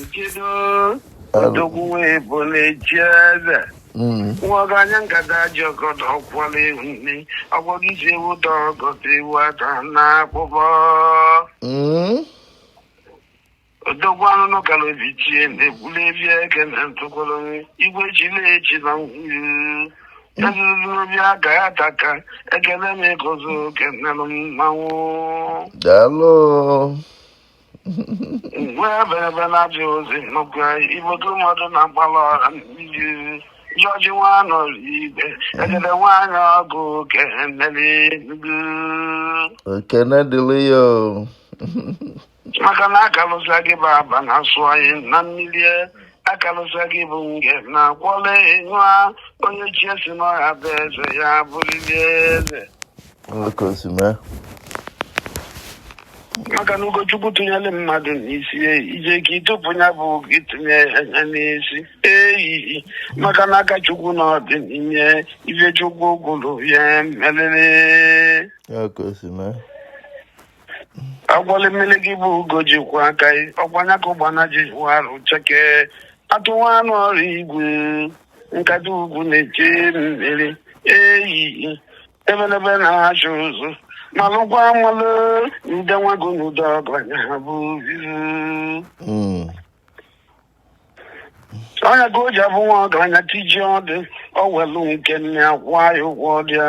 Nchedo odogwu wee bụ na-echi eze nwa ọgaranya ngada ji ọgọdọ ọkwala ewu nne ọgwọgị ji ewu dọ ọgọdọ ewu ata na akpụkpọ odogwu anụnụ gara obi chie na-egbuli ebi eke na ntụkwara nri igwe chili echi na ngwuru ezuzuru obi aga ya taka ekele m ịgọzi oke nnelụ mmanwụ Daalụ. Igwe ebelebe na-ajụ ozi n'oge ibodo mmadụ na-agbalị ọha iji jọji nwanụ ibe ejede nwaanyị ọgụ oke mmeri ndu ekene dịrị ya o. maka na akalụsa gị bụ aba na-asụ anyị na mmiri akalụsa gị bụ nge na kwọle ịnyụa onye chi ya sị na ọ ga-abụ eze ya bụrịrị eze maka na ugo chukwu tụnyere mmadụ n'isi i jeko ịtụpụ ya bụ gị tụnye ya n'isi eyi maka na aka chukwu na ọ dị n'ihe ife chukwu kwuru ya merịrị agwọlị mmiri gị bụ ugo ji kwọ aka ọ kwa nya ka ụgbana ji wụ arụ cheke atụwa anụ ọrụ igwe ngada ugwu na-eche mmiri eyi ebelebe na-achụ ụzọ malụkwa amalụ ndị nwago n'udo ọgaranya ha bụ izu Mm. onye ka o ji abụ nwa ọgaranya tijie ọdụ o welu nke nna ya kwụa ya ụgwọ dị ya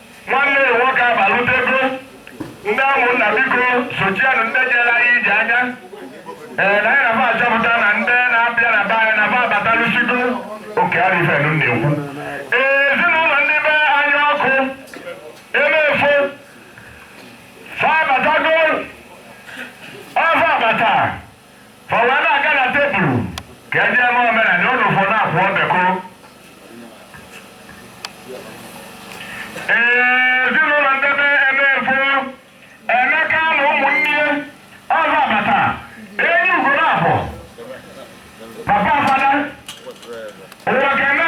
Nwanne ya nwoke abalutego ndị ụmụnna biko sochienụ ndị jere anyị ije anya ee na anyị na-aba achọpụta na ndị na-abịa na be anyị na-aba abatalusigo oke arifenu na-ekwu ee ezinụlọ ndị be anyị ọkụ emefo fa abatago ọ fa abata Fa wee na-aga na tebulu ka e jee mee omenala unu fọ na-akwụ ọbekụ. Ezinụlọ ndị be ebe efo Emeka na ụmụnne ya ọzọ abata enyi ugo na-afọ papa fada ụwa keme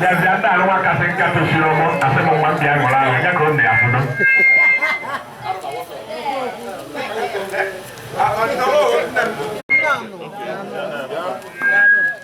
bịazịa ndị alụwa kasị nka tosiri ọgbọ asị m nwa mbịa ṅụrụ ahụ ya ka ọ na-ya fụdo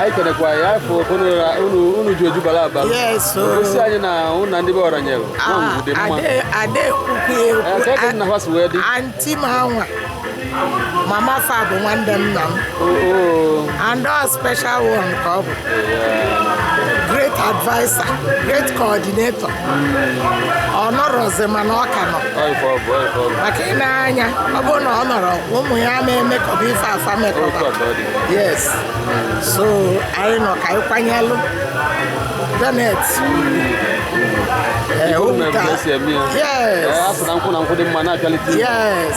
anyị kenekwa ya afọ unu ji ojubala aba gosi anyị na ụnụ na ndị be ọra nyere ah, dị mma ebe nna ha si wee dị anti m anwa mama fa bụ nwanne nna m and ọ special one ka ọ bụ great adviser great coordinator ọ nọrọzi mana ọ ka nọ maka ị na-anya ọ bụrụ na ọ nọrọ ụmụ ya ma emekọba ife afa mekọba yes so anyị nọ ka anyị kwanyelụ janet eh, Ọnwụ na-ewute. ewute. yes Asị na nkwụ na nkwụ dị mma na-apịalite ihu. yes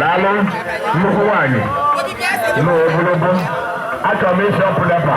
daalụ nnukwu nwaanyị na ogologo achọrọ m ịsị ọpụdapa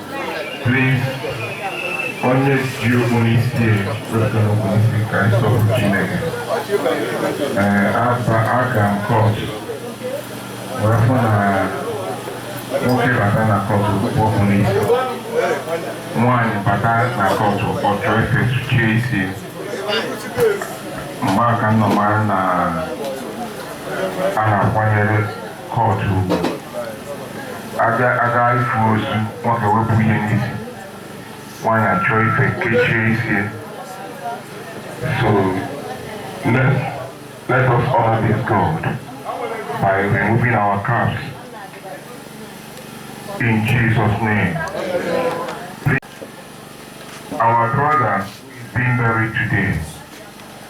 Please, onye ji okpu n'isi kpupụ n'isi ka ị sọpụrụ Chineke ee aba aga m kọt wee fụ na nwoke bata na kọt o kpupụ okpu n'isi nwaanyị bata na kọt ọ chọọ ife kechie isi maka na ọ mara na a na-akwanyere kọtụ ugwu aga aga ịfụ ozu nwoke wepụ ihe n'isi nwaanyị achọọ ife kechie isi so let, let us honor this God by removing our caps in Jesus name our brother is being buried today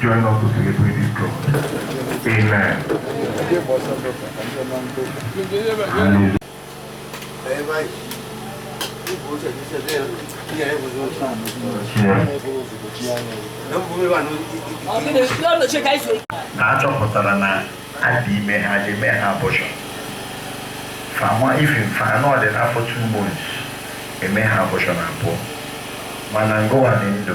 Join us to celebrate this God. Amen. Hallelujah. na a chọpụtara na adị ime ha ji mee ha abụchọ fama ife mfa anọ dị n'afọ two months eme ha abụchọ na abụọ mana ngụwa dị ndụ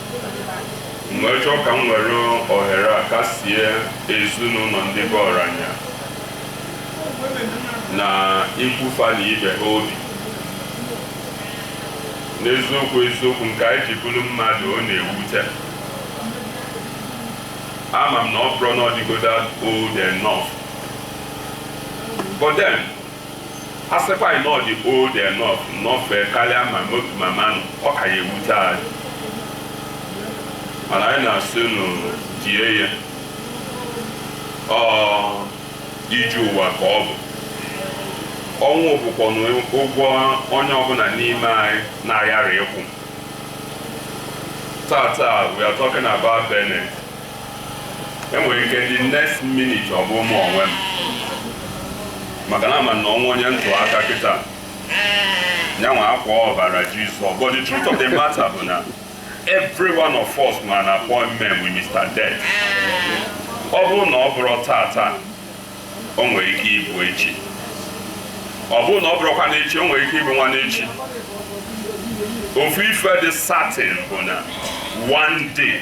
m wee chọọ ka m were ohere a kasie ezinụlọ ndị be ọranya na ikwu fa na ibe ha obi n'eziokwu eziokwu nke anyị ji bụrụ mmadụ ọ na-ewute ama m na ọ bụrọ na ọ dịgodo old enough but then A sịkwanụ na ọ dị old enough nọfee karịa ma mo- mama nọ, ọ ka ya-ewute anyị. Mana anyị na-asị unu die ya. Ọ ije ụwa ka ọ bụ. Ọnwụ bụkwanụ ụgwọ onye ọbụla n'ime anyị na-aghara ịkwụ. Taa taa, we are talking about Bennet. enwere ike the next minute ọ bụ mụ onwe m maka na ama na ọ bụ onye m tụ aka kịta nyanwa akpọọ ọbara jizọs but the truth of the matter bụ na every one of us nwere an appointment with mr death ọ bụrụ na ọ bụrọ tata o nwere ike ịbụ echi ọ bụrụ na ọ bụrọkwanụ echi o nwere ike ịbụ nwanne echi ofu ife dị certain bụ na one day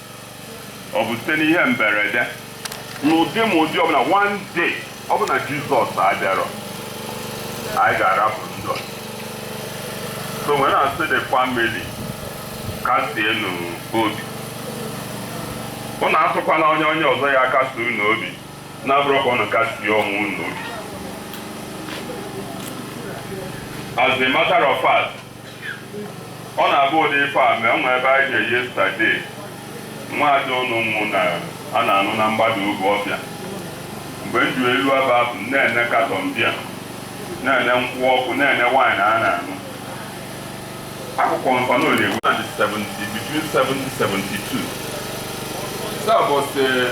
Ọ bụ site n'ihe mberede n'ụdị ma ụdị ọbụla one day ọ bụ na Jizọs abịarọ anyị ga-arapụ ndụ a. So wee na-asị the family kasienụ obi. Unu atụkwana anya onye ọzọ ya-akasi unu obi na-abụrọ ka unu kasie onwe unu obi. As a matter of fact, Ọ na-abụ ụdị ife a mee, o nwere ebe anyị je yesterday, nwaada unu nwụ na a na-anụ na mgbada ugwu ọfịa. Mgbe m jelu ebe ahụ, m na-ene carton beer, na-ene nkwụ ọkụ, na-ene wine a na-aṅụ. Agụkọọ m fa ọnụ o lue ewu na 70 between 70 72. Sir, but eh,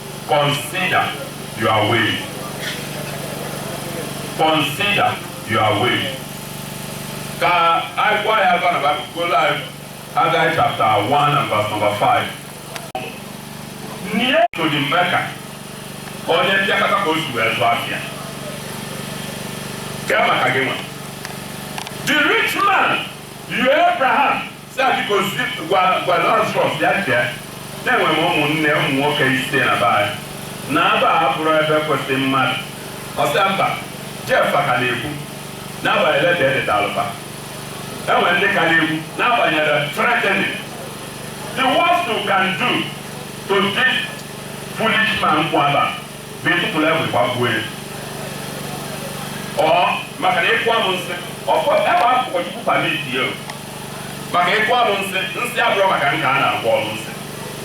Consider your way. Consider your way. Ka anyị gwa ya aka na Baịbụl gụọlụ anyị Haggai chapter 1 and verse number 5. Nie to the Mecca ka onye mpịakọta ka o si wee zụọ afịa. Kee maka gị nwa. The rich man, you Abraham, Sị, biko zi- gwa gwa Lazarus ya bịa na enwe m ụmụnne ụmụ nwoke ise na be anyị na aba abụrọ ebe kwesịrị mmadụ ọ sị ya mba Jeff ka na-ekwu n'agbanyerọ leta e detalụ ba enwe ndị ka na-ekwu n'agbanyeghị threatening the worst you can do to this foolish man kwụ aba bụ ịtụpụrụ egbe gbagbuo ya or maka na ịkọ m nsị ọkọ ebe ahụ ụkọchukwu permit ya o maka ịkụ alụsị nsị abụrọ maka nka a na-akpọ alụsị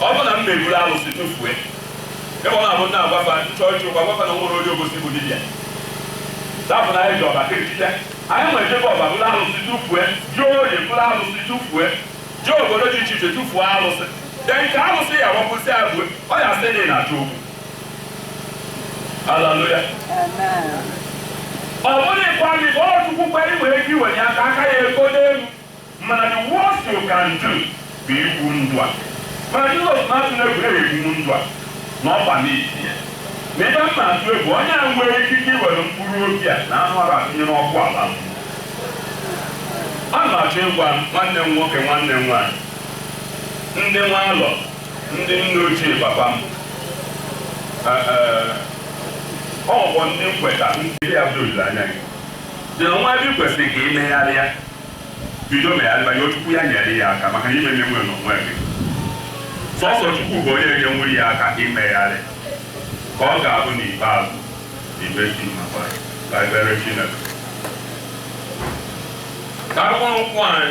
ọ bụ na m ebulu alụsị tụfue ebe ọ na-abụ m na-agwa fa chọọchị ọkwa a gwa fa na nwere onye obosi bụ dibịa dapụ na anyị je ọba kirikite anyị wee je ọba buru alụsị tụfue je oye buru alụsị tụfue je obodo dị iche iche tụfuo alụsị de nke alụsị ya wapụsị abụe ọ ya sị na ị na-achọ okwu Haleluya. Ọ bụrụkwa gị bụ chukwu kwere i nwere ike iwenye aka aka ya ego n'elu mana the worst you can do bụ igbu ndụ a mana Jizọs atụna egwu igbu ndụ a na ọkwa n'isi ya na ebe m na-atụ egwu onye a nwere ikike iwere mkpụrụ obi a na anụ arụ a tụnye n'ọkụ ala mmụọ a na-achọ ịgwa nwanne m nwoke nwanne m nwaanyị ndị nwa alọ Ndị nne ochie papa m, ọ bụ ndị nkweta ndị a doziri anya gị dị na nwa ebe ị kwesịrị ka ị megharịa bido megharịba yọọ Chukwu ya nyere ya aka maka na ị ma-emenwu n'onwe gị sọsọ Chukwu bụ onye ga-enyere ya aka imegharị ka ọ ga-abụ n'ikpeazụ imesi maka ka ebere Chineke ka anyị kwụrụ n'ụkwụ anyị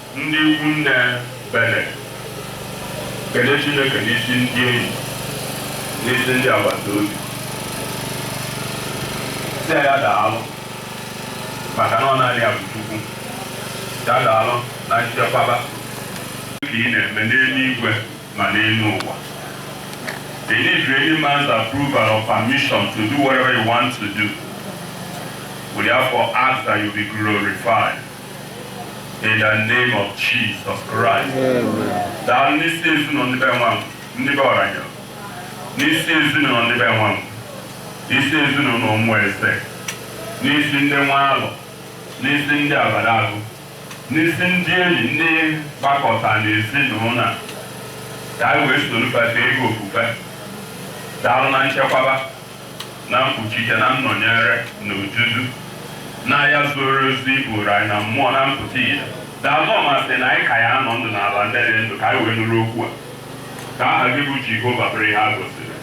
Ndị ikwu nne Bennett, kene Chineke n'isi ndị enyi, n'isi ndị agbata obi. Sị ya daalụ maka na ọ naanị ya bụ Chukwu. Ya daalụ na nchekwaba. Ka ị na-eme n'eluigwe ma n'elu ụwa. Ị needighị any man's approval or permission to do whatever you want to do. We therefore ask that you be glorified. in the name of Jesus Christ. Daalụ n'isi ezinụlọ ndị be nwa m, ndị be Ọranye, n'isi ezinụlọ ndị be Nwankwọ, n'isi ezinụlọ Ụmụeze, n'isi ndị Nwalọ, n'isi ndị Abadalụ, n'isi ndị enyi ndị gbakọta n'ezinụlọ a, ka anyị wee soro bata ego ofufe. Daalụ na nchekwaba. na mkpuchite na nnọnyere na odudu na ihe zuru ezu ị bụụrụ anyị na mmụọ na mpụta ihe. Daalụ na ọ masị na anyị ka ya-anọ ndụ n'ala ndị dị ndụ ka anyị wee nụrụ okwu a. Ka aha gị bụ Jehova bụrụ ihe a gọziri.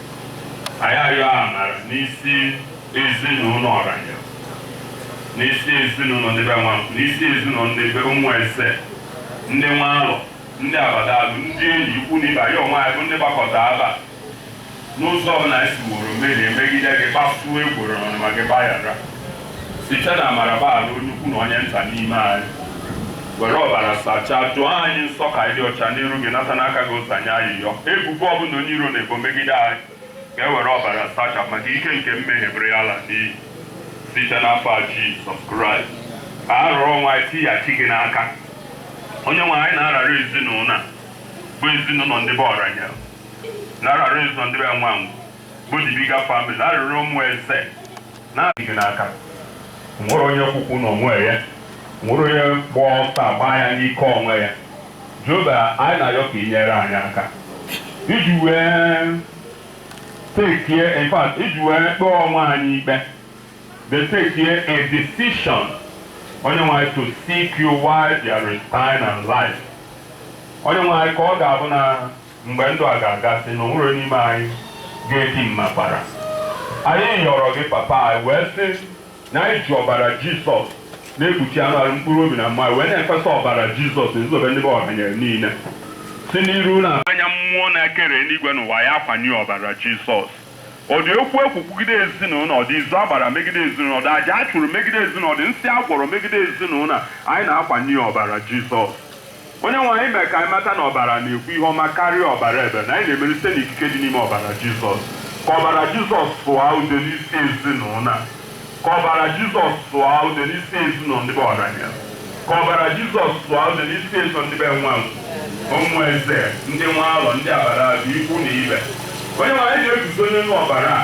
Anyị ayọọ amara n'isi ezinụlọ Ọranye, n'isi ezinụlọ ndị be Nwankwọ, n'isi ezinụlọ ndị be Ụmụeze, ndị Nwalọ, ndị Abadalụ, ndị enyi ikwu na ibe anyị onwe anyị bụ ndị gbakọta aba n'ụzọ ọbụla anyị siworo mmehie megide gị kpasuo iwe na ọnụma gị gbaghara site na amara gbaghara onye ukwu na onye nta n'ime anyị were ọbara sachaa doo anyị nsọ ka anyị dị ọcha n'iru gị nata n'aha Jizọs anyị ayịyọ ebubo ọbụla onye iro na-ebo megide anyị ka e were ọbara sachapụ ma ka ike nke mmehie bụrụ ihe a lara n'iyi site n'afa Jizọs Kraịst ka anyị were onwe anyị tighachi gị n'aka onye nwe anyị na-arara ezinụlọ a bụ ezinụlọ ndị be Ọranye na-arara ezinụlọ ndị be Nwankwọ the bigger family na-arara Ụmụeze na-eti gị n'aka nwere onye kwukwu na onwe ya nwere onye gba ọsọ agba ya n'ike onwe ya Jehova anyị na-ayọ ka ị nyere anyị aka iji wee tekie in fact iji wee kpee onwe anyị ikpe wee tekie decision onye nwe anyị to seek you while there is time and life onye nwe anyị ka ọ ga-abụ na Mgbe ndụ a ga-agasị na o nwero onye n'ime anyị ga-eti mmakwara, anyị yọrọ gị, Papa, anyị wee sị na anyị ji ọbara Jizọs na-ekpuchi anụ arụ, mkpụrụ obi na mmụọ anyị, wee na-efesa ọbara Jizọs n'ebe ndị be Ọhanyere niile si n'iru na anya mmụọ na-ekere eluigwe na ụwa ya akwanye ọbara Jizọs. Ọ dị okwu ekwu kwugide ezinụlọ, ọ dị izu a gbara megide ezinụlọ, ọ dị aja a chụrụ megide ezinụlọ, ọ dị nsị a gwọrọ megide ezinụlọ, anyị na-akwanye ọbara Jizọs. Onyenwe anyị mere ka anyị mata na ọbara na-ekwu ihe ọma karịa ọbara Ebel, na anyị na-emeri site n'ikike dị n'ime ọbara Jizọs. Ka ọbara Jizọs sụọ ude n'isi ezinụlọ a. Ka ọbara Jizọs sụọ ude n'isi ezinụlọ ndị be Ọrania. Ka ọbara Jizọs sụọ ude n'isi ezinụlọ ndị be Nwangu, Ụmụeze, ndị Nwalọ, ndị Abaragu, ikwu na ibe. Onyenwe anyị na-eguzo n'elu ọbara a.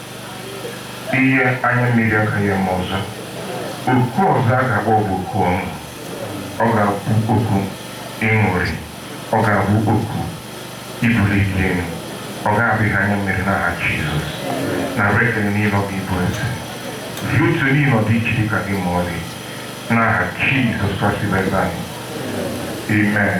Ihe anya mmiri agaghị eme ọzọ. Oku ọzọ a ga-akpọ bụ oku ọṅụ. Ọ ga-abụ oku ịṅụrị. Ọ ga-abụ oku ibuli gị elu. Ọ gaghị abụ ihe anya mmiri n'aha Jizọs. Nara ekele niile ọ gị bụ eze. Were otuto niile ọ dịghị chi dị ka gị ma ọlị. N'aha Jizọs Kraịst bụ eze anyị. Amen.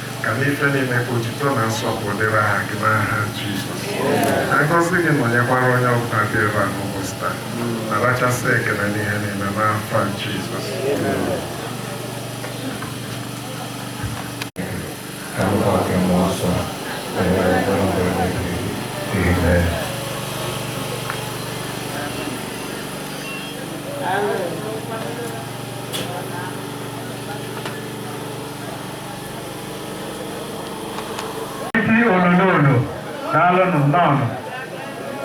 Ka n'ife niile ka otuto na nsọpụrụ dịrị aha gị n'aha Jizọs. Ka ngọzi gị nọnyekwara onye ọbụla dị ebe a n'ụbọchị taa. Narachasị ekele n'ihe niile n'afa Jizọs. Ka nkwa gị mmụọ nsọ na-enyere mkpụrụ ndụ onye gị. Amen. isi onyonyo daalụnụ nnọọnụ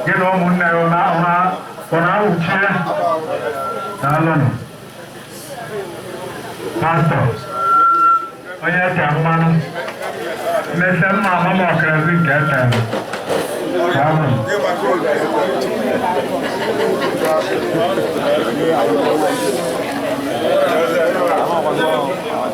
gị na ụmụnne gị na ahụ ha ọ na-awụchie daalụnụ pastọ onye ete mmanụ mmete mma amama ọkarazi nke ete daalụnụ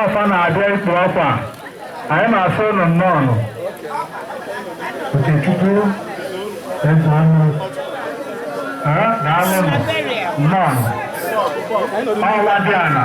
ọfa na-abịa ikpu ọkwa anyị na-asị ụnụ nnọọ Okechukwu eze ọnụ daalụnụ nnọọ ọla dị ana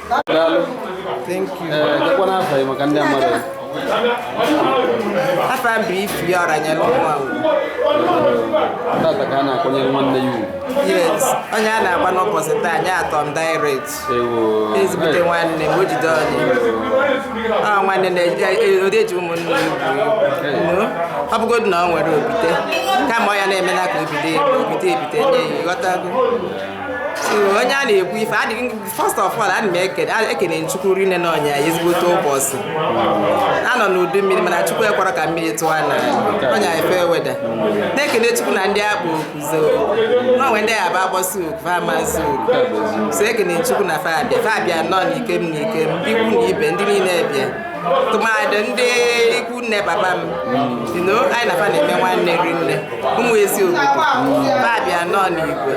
Thank you. Afam bụ ifi ọra nye n'ụwa Tata ka a na-akwanyere nwanne ya ugwu. Yes, onye a na-akwa n'ụbọchị taa nye atọ m direct. Ezigbote nwanne m o jide onye. Ọ nwanne na-ode eji ụmụnne ya ugwu. Ọ bụgodị na ọ nwere obite, kama ọ ya na-eme na ka obite ebite nye ya, ịghọtago. Onye a na-ekwu ife adịghị first of all ana m ekele ekele chukwu rinne na o nye anyị ezigbote ụbọchị a nọ n'udu mmiri mana chukwu ekwerọ ka mmiri tụọ na o nye fair weather na-ekele chukwu na ndị a kpọ oku za o na o nwe ndị a ga-akpọsi oku fa ama-aza oku so ekele chukwu na fa abịa fa abịa nọ n'ikem n'ikem ikwu na ibe ndị niile bịa tụmadị ndị ikwu nne papa m si na anyị na fa na-eme nwanne rinne ụmụ ezi obodo fa bịa nọ n'igwe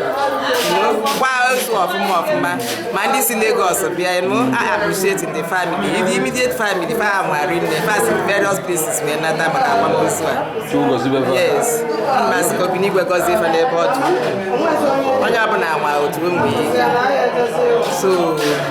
gbaa ozu ọfụma ọfụma ma ndị si Lagos bịa nụ I appreciate the family the immediate family fa anwa rinne fa si various places wee nata maka akwamozu a yes m asị ka obi n'igwe gọzie fa n'ebe ọ dị onye ọbụla ma otu ụmụ ya so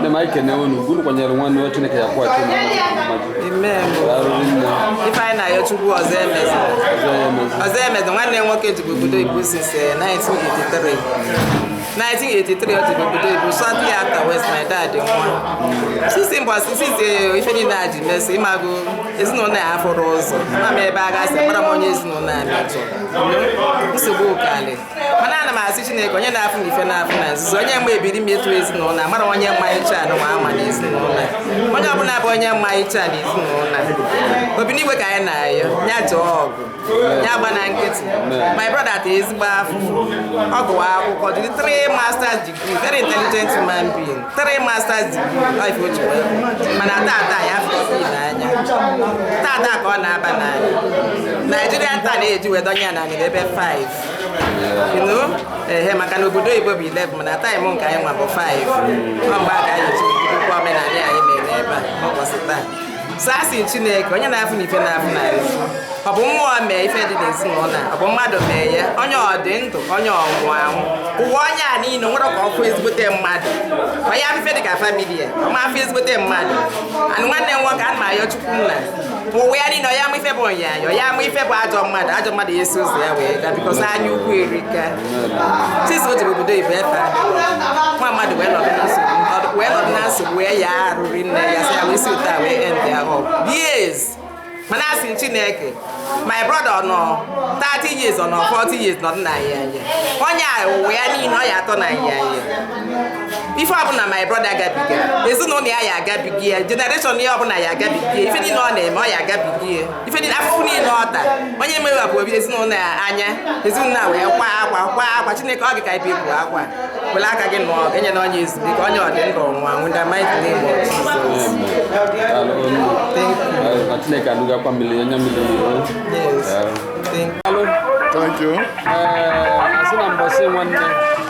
ndị m na-ekene unu unu kwanyere nwanne ya chineke ya-akwụghachi unu ife anyị na-ayọ chukwu ọzọ emezi ọzọ emezi nwanne nwoke je obodo oyibo since 1983 1983 o je obodo oyibo shortly afterwards my dad nwa sisi mgbe sisi ife niile a ji mesi ịmago ezinụlọ ya afọrọ ụzọ ma m ebe a gasị mara m onye ezinụlọ a metụ nsogbu ụkalị mana ana m asị Chineke onye na-afụ n'ife na-afụ na nzuzo onye mgbe ebiri m etu ezinụlọ amara onye mma iche anụ ma ama na ezinụlọ onye ọbụla bụ onye mma iche na ezinụlọ obi n'igwe ka anyị na-ayọ ya nụọ ọgụ ya agbana nkịtị my brother ta ezigbo afụfụ ọ gụwa akwụkwọ jiri three masters degree very intelligent human being three masters degree bụ ife o ji mana tata ya afọ n'anya tata ka ọ na-aba n'ana Nigerian time a na-eji wee donye ya na ebe 5 ehe maka na obodo oyibo bụ 11 mana time nke anyị nwa bụ 5 ọ mgbe a ka anyị ji bidokwa omenala anyị mere ebe a n'ụbọchị taa so a sị chineke onye na-afụ n'ife na-afụ na efu ọ bụ mmụọ mee ife dị n'ezinụlọ a ọ bụ mmadụ mee ya onye ọ dị ndụ onye ọ nwụ anwụ ụwa onye a niile nwere ka ọkụ ezigbote mmadụ onye afụ ife dị ka family ya ọ ma afụ ezigbote mmadụ anụ nwanne m nwoke ana m ayọ chukwu nna ụwa ya niile ya ife bụ onyanyọ ya ama ife bụ ajọ mmadụ ajọ mmadụ ya esi ụzọ ya wee gaa because anya ukwu erika tis o jere obodo oyibo efe nwa mmadụ wee nọdụ na nsogbu wee nọdụ na nsogbu wee ya arụ rinne ya sị ya wee si ụta wee end ya ọgụ years mana asị m chineke my brother ọ nọ 30 years ọ nọ 40 years nọdụ na ya onye a ụwa ya niile ọ ya atọ na ya ife ọbụla my brother agabiga ezinụlọ ya ya agabiga ya generation ya ọbụla ya agabiga ya ife niile ọ na-eme ọ ya agabiga ya ife niile afụfụ niile ọ tara onye mere bụ obi ezinụlọ ya anya ezinụlọ a wee kwa akwa kwa akwa chineke ọ gị ka ibe bụ akwa were aka gị nụọ enye na onye ezumike onye dị ndụ nwa nwụda mike na-eme Chineke alụgakwa mmiri onye mmiri Thank you. Ee, asị na mbọsị nwanne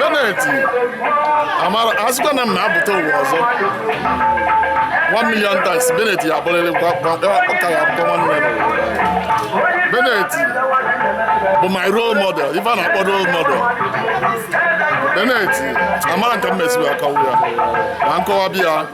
Benneth a sịkwa na m na-apụta ụwa ọzọ one million times Benneth ya-abụrịrị ọ ka ya-abụkwa nwanne m Benneth bụ my role model ife a na-akpọ role model Benneth amarọ m ka m esi wee akọwa ya ma nkọwa bịa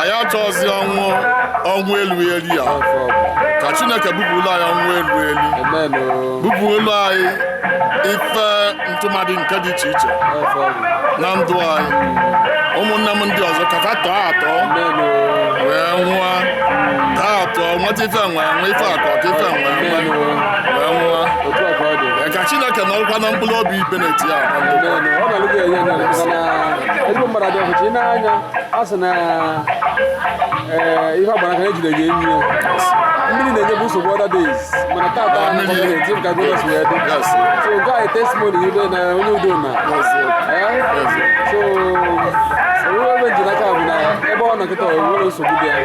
anyị achọghịzi ọnwụ ọnwụ elu elu ya ka chineke bupụrụ anyị ọnwụ elu elu bupụrụ anyị ife ntụmadị nke dị iche iche na ndụ anyị ụmụnne m ndị ọzọ ka fa tọọ atọ wee nwụọ tọọ atọ nweta ife nwa nwa ife a kọ ka ife nwa nwa wee nwụọ ka chineke narakwanụ mkpụrụ obi Benneth ya a sị na ihe ọgbara ka ejide gị enyi mmiri na-enyebu nsogbu other days mana tata gọọmenti ka gọọmenti si wee dị so nke anyị testimony ibe na onye udo na so onwe ebe m ji n'aka bụ na ebe ọ nọ kịta nwere nsogbu dị ya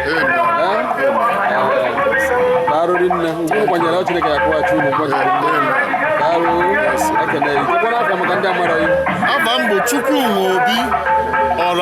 arụrị nne ugwu kwanyere ọ Chineke ya-akwụghachi unu mgbe arụ ekene ikekwana aka maka ndị amara ya afa m bụ Chukwuma Obi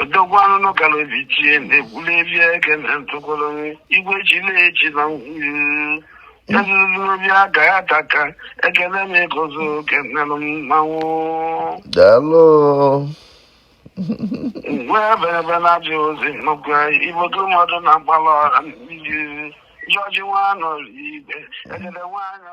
odogwu anụnụ gara ozi chie na-egwuleli ege na ntụgoro igwe ji na-eji na ngwuru ezururori aga ya taka ekele m ịgọzi oge nnelụ mmanwụ daalụ mgbe eberebe na-abịa ozi nnukwu ibodo mmadụ na-agbala ọra mmiri jọji nwa anọrọ ibe egede nwaanyị